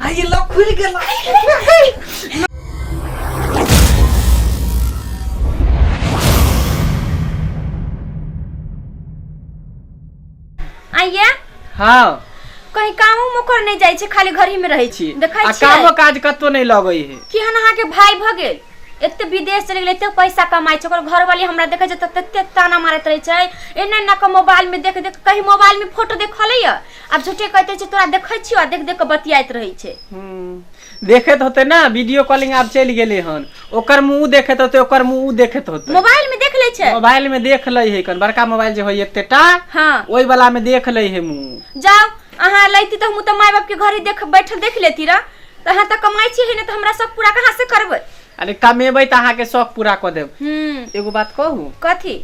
आइए लॉक खुल गेल आइए हाँ कहीं कामो मोकर नहीं जाए छे खाली घर ही में रहे छी देखै आ छी कामो काज कतौ नहीं लगै है कि हन अहाँ के भाई भ गेल एते विदेश चलि गेलै एते पैसा कमाइ छै ओकर घरवाली हमरा देखै छै तऽ तते ताना मारैत रहै छै एना एना के मोबाइल में देख देख कहीं मोबाइल में फोटो देखले य आब झूठे कहते छै तोरा देखै छियो आ देख देख के बतियाइत रहै छै हम्म, देखैत होते ना वीडियो कॉलिंग आब चलि गेलै हन ओकर मुंह देखैत होते ओकर मुंह देखैत होते मोबाइल में देख ले छै मोबाइल में देख लै है कन बड़का मोबाइल जे होय एतेटा हाँ ओहि वाला में देख लै है मुंह जाओ अहाँ लैती तऽ हम तऽ माय बाप के घरे देख बैठल देख लेती रह तऽ अहाँ तऽ कमाई छी है ना तो हमरा सब पूरा कहाँ से करबै अरे कमेबै तऽ अहाँके शौक पूरा कऽ देब हम्म एगो बात कहू कथी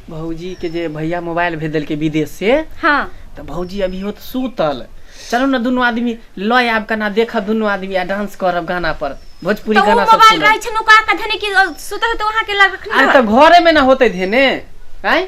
भौजी के जे भैया मोबाइल भेज देलकै विदेश से हाँ तऽ भौजी अभी होत सुतल चलू ने दुनू आदमी लऽ आयब कना देखब दुनू आदमी आ डांस करब गाना पर भोजपुरी तो वो गाना सब मोबाइल सुनब रहे छन ओका कथने की सुतल तो वहां के लग रखनी अरे तो घरे में ना होते धेने आय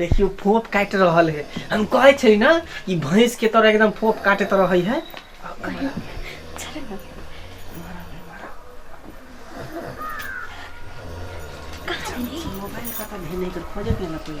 देखियौ फोफ काटि रहल हे हम कहै छै ने कि भैंस के तरह एकदम फोफ काटैत रहै है मोबाइल कतऽ भेने के खोजे के ना कोई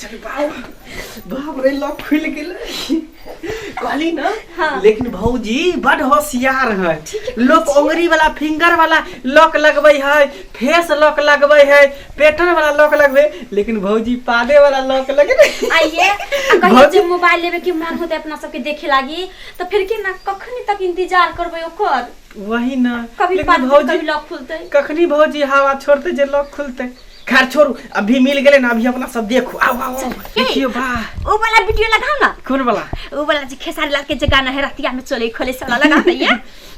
चल बाबू बाप रे लॉक खुल गेल कहली ना हाँ। लेकिन भौजी बड होशियार है लोग उंगली वाला फिंगर वाला लॉक लगबै है फेस लॉक लगबै है पेटन वाला लॉक लगबै लेकिन भौजी पादे वाला लॉक लगबै आइए आ कहियो भौजी- जे मोबाइल लेबे के मन होते अपना सबके देखे लागी तो फिर के ना कखनी तक इंतजार करबे ओकर वही ना कभी लेकिन पाद भौजी कभी लॉक खुलते कखनी भौजी हवा छोड़ते जे लॉक खुलते खैर छोड़ू अभी मिल गेलै ना अभी अपना सब देखू आओ आओ आओ देखियो बा ओ वाला वीडियो लगाओ ना कौन वाला ओ वाला जे खेसारी लाल के जे गाना है रतिया में चले खोले साला लगा ना ये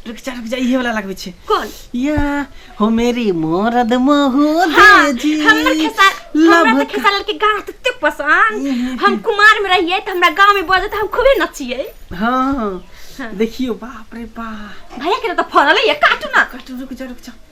रुक जा रुक जा इहे वाला लगबै छै कौन या हो मेरी मोरद महू हाँ, दे जी हमर खेसार हमरा लभ तो खेसार लाल के गाना तो ते पसंद हम कुमार में रहिए तो हमरा गांव में बजे तो हम खूबे नचिए हाँ देखियो बाप रे बाप भैया के तो फरल है ये काटू ना कट रुक जा रुक जा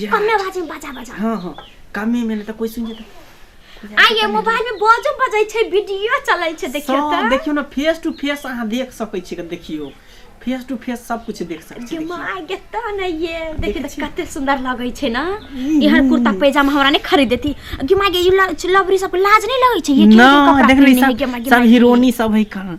जा कमे आवाज में बजा बजा हाँ हाँ कमे में तो कोई सुन जाता आ ये मोबाइल में बाजो बजै छै वीडियो चलै छै देखियो सब त देखियो ना फेस टू फेस अहाँ देख सकै छी देखियो फेस टू फेस सब कुछ देख सकै छी देखियो। दिमाग के त नै ये देखि देख कते सुंदर लगै छै ना इहर कुर्ता पैजामा हमरा नै खरीद देती गिमा गे लवरी सब लाज नै लगै छै ये ना देख ली सब सब हीरोनी सब है कहाँ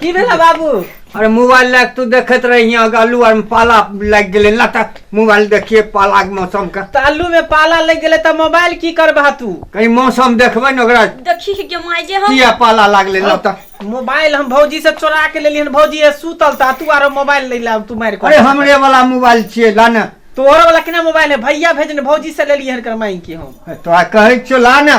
की भेल बाबू अरे मोबाइल लग तू देखत रही आलू आर में पाला लग गए लटक मोबाइल देखिए पाला के मौसम का तो आलू में पाला लग गए तो मोबाइल की करबा तू कहीं मौसम देखबे न ओकरा देखी के माय जे हम किया पाला लग ले लटक मोबाइल हम भौजी से चोरा के लेलियन भौजी ए सुतल ता तू आरो मोबाइल ले ला तू मार अरे हमरे वाला मोबाइल छिए ला ना तोहर वाला केना मोबाइल है भैया भेजने भौजी से लेलियन कर माई की हम तो आ कहै छो ला ना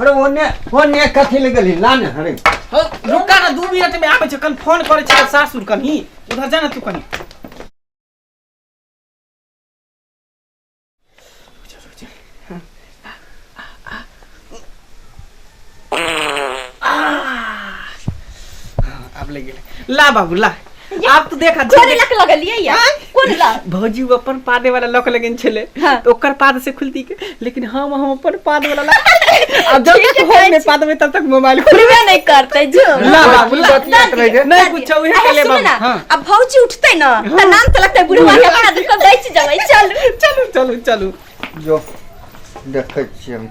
अरे ओने ओने कथी ले गेली ला ने अरे हौ, रुका न दू मिनट में आबै छै कन फोन करै छै सासुर कनी उधर जा न तू कनी आब ले गेलै ला बाबू ला आब तू देख कोन लक लगलिए या कोन लक भौजी वो अपन पादे वाला लक लगन छले हाँ। तो ओकर पाद से खुलती के लेकिन हम हम अपन पाद वाला लक अब जब तक होम में पाद में तब तक मोबाइल खुलबे नहीं करते जो ला बाबू ला नहीं कुछ उहे के ले बाबू हां अब भौजी उठते ना हाँ। त नाम त लगते बुढ़वा के पाद को बेच जावे चल चलो चलो चलो जो देखे छी हम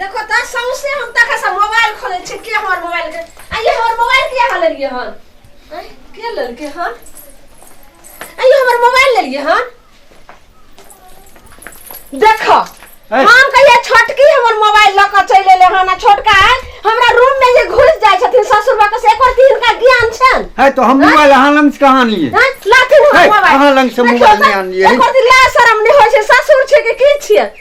देखो त सौसे हम तक से मोबाइल खोले छे के हमर मोबाइल के आ ये हमर मोबाइल के हाल लिए हन आय, के लेल के हन आ ये हमर मोबाइल ले लिए हन देखो ऐ। हम कहिया छोटकी हमर मोबाइल ल के चले ले हन आ छोटका है हमरा रूम में जे घुस जाय छथिन ससुर बा के से एकर की हिनका ज्ञान छन है तो हम मोबाइल अहाँ लंग से कहाँ लिए हैं, लाथिन है, हम मोबाइल अहाँ लंग से देखियौ मोबाइल त, नहि आनलियै। एकर दिला शरम नहि होइ छै ससुर छै कि की छियै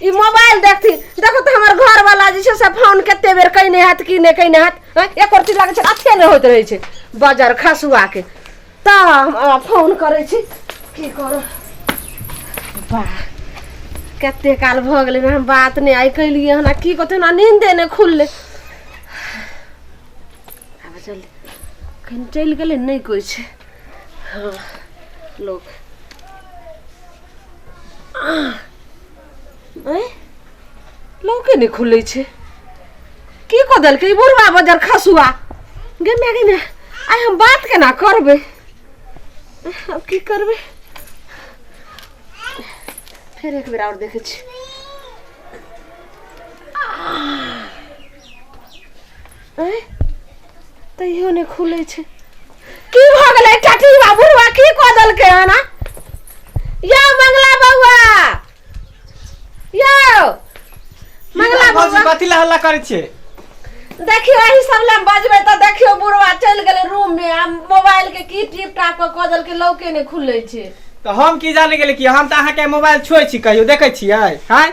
ई मोबाइल देखती देखो तो हमर घर वाला जे छै से फोन कते बेर कइने हाथ की ने कइने हाथ हँ, एक रती लागै छै अथे ने होइत रहै छै बाजार खसुआ के त हम अहाँ फोन करै छी की करो वाह कते काल भऽ गेलै हम बात नहि आइ कैलियै हन आ की कहतै हमरा नींदे नहि खुललै आब चल कहीं चलि गेलै नहि कोइ छै हँ लोक ऐं? लौके नहि खुलै छै की कऽ देलकै ई बुढ़वा बजर खसुआ गे माय गे माय आइ हम बात केना करबै आब की करबै फेर एक बेर आओर देखै छी तैयो ने खुले छे की भ गेलै टटी बाबूवा की क देलकै हन यो मंगला बौआ यो मंगला बौआ कथि ला हल्ला करै छे देखियो एही सब ले बजबे त देखियो बुढ़वा चल गेले रूम में आ मोबाइल के की टिप टाप क क देलकै लौके ने खुले छे तो हम की जाने गेले कि हम त अहा के मोबाइल छोय छी कहियो देखे छियै हां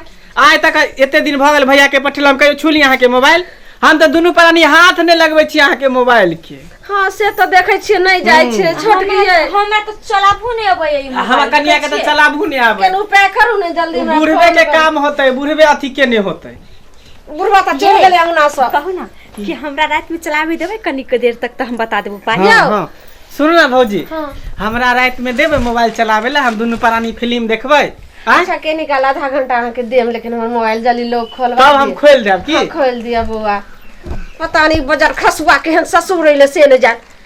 आइ तक एते दिन भऽ गेल भैया के पठेलहुँ कहियो छुली अहाँके मोबाइल हम तऽ दुनू प्राणी हाथ नहि लगबै छी अहाँके मोबाइल के हाँ से तो देखे छियै नहीं जाय हम्म। छै छोट हमरा गई तो- हमरा तो चलाबू नहीं अबै है आ हमर कनिया के तऽ चलाबू नहि आबै केन उपाय करू ने जल्दी हमरा बुढ़बे फोन के करू। काम होतै बुढ़बे अथी के नहि होतै बुढ़वा तऽ चल गेलै अंगना से कहू ना कि हमरा रात में चलावे देबे कनिक देर तक तो हम बता देबो पाई हाँ हाँ सुन ना भौजी हाँ। हमरा रात में देबे मोबाइल चलावे ला हम दुनू प्राणी फिल्म देखबै आँय? अच्छा के निकाल आधा घंटा अहाँ के देम लेकिन हमर मोबाइल जली लोग खोलवा तब हम दिए। खोल देब हाँ, की खोल दिया बौआ पता नहीं बजर खसुआ केहन ससुर रहिले से न जान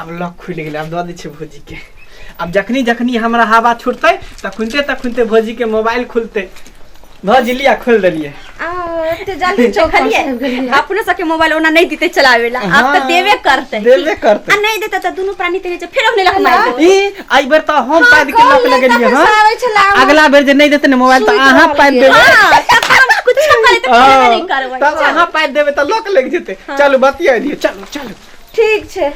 आब लॉक खुलि गेलै आब दऽ दै छियै भौजीके आब जखनी जखनी हमरा हवा छुटतै तखुनते तखुनते भौजीके मोबाइल खुलतै भौजी लिया खोलि देलियै आ, एते जल्दी चौखलिए अपने सबके मोबाइल ओना नहीं देते चलावे ला आप तो हाँ, देवे करते देबे करतै आ नहीं देता तो दोनों प्राणी तेरे जो फिर अपने लग मार ई एहि बेर तऽ हम पाइप के लॉक लगेलिए हँ आबै छला अगला बेर जे नहि देते ने मोबाइल तऽ अहाँ पाइप देबै हां तब हम कुछ करे तो हाँ, नहीं करबै तब अहाँ पाइप देबै तऽ लॉक लागि जेतै चलू बतिया दियौ चलू चलू ठीक छै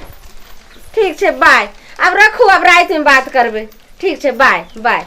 ठीक छै बाय अब रखू अब रात में बात करबे ठीक छै बाय बाय